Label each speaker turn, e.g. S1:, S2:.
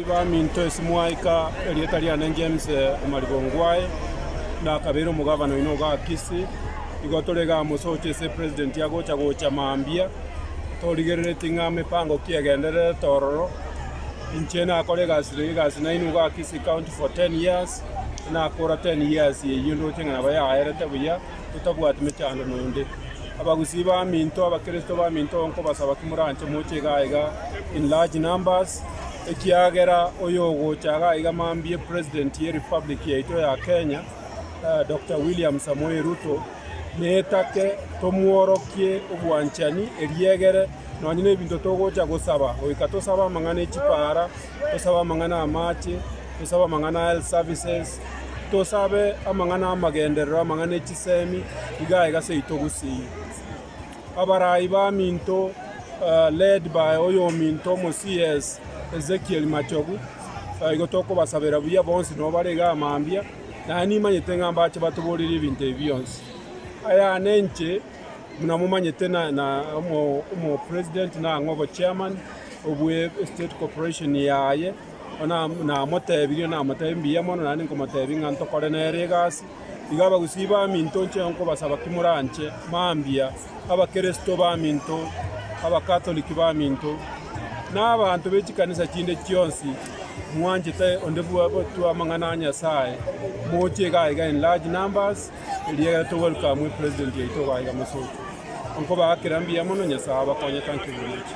S1: Baminto ase moika erieta riane James Omariba Ongwae, na akabeire omogavana oino o Gakisi. Igo tore iga amo socha ase president agocha gocha mambia, torigerereti ng'a mepango ki egendererete ororo. Inche nakore egasi egasi naino Gakisi county for ten years, nakora ten years eyio ndoche ng'a nabo yaerete buya. totabwati mechando nonde. Abagusii baminto, Abakristo baminto, nkobasaba ki moranche moche igaa igaa in large numbers, ekiagera oyogocha igaa igaa mambie President ye Republic yaito ya Kenya, eh, Doctor William Samoei Ruto, netake tomworokie obwanchani, eriegere nonye nebinto togocha gosaba, goika tosabe amang'ana echipaara, tosabe amang'ana amache, tosabe amang'ana a health services, tosabe amang'ana amagenderero, amang'ana echisemi, iga iga seyi toguseyie. Abarai baminto led by oyominto omo CS Ezekiel Machogu, igo tokobasabera buya bonsi nabo bare igaa mambia, naende nimanyete ng'a mbache batoborerie ebinto ebi bionsi. Ayane inche. buna momanyete na na omo omo president nang'o obo chairman obwe estate corporation yaye ona namotebirie namotebi mbuya mono naende nkomotebi ng'a ntokore nere egasi. Iga abagusii baminto nche nkobasaba ki moranche mambia abakeresto baminto, abakatoliki baminto, na abanto be chikanisa chinde chionsi mwanchete onde bwa gotwa amang'ana a Nyasaye moche iga iga in large numbers. Erio egere to welcome president yaito obaye gamosooki. Nkobaa kera mbuya mono Nyasae abakonyete nkiburuche.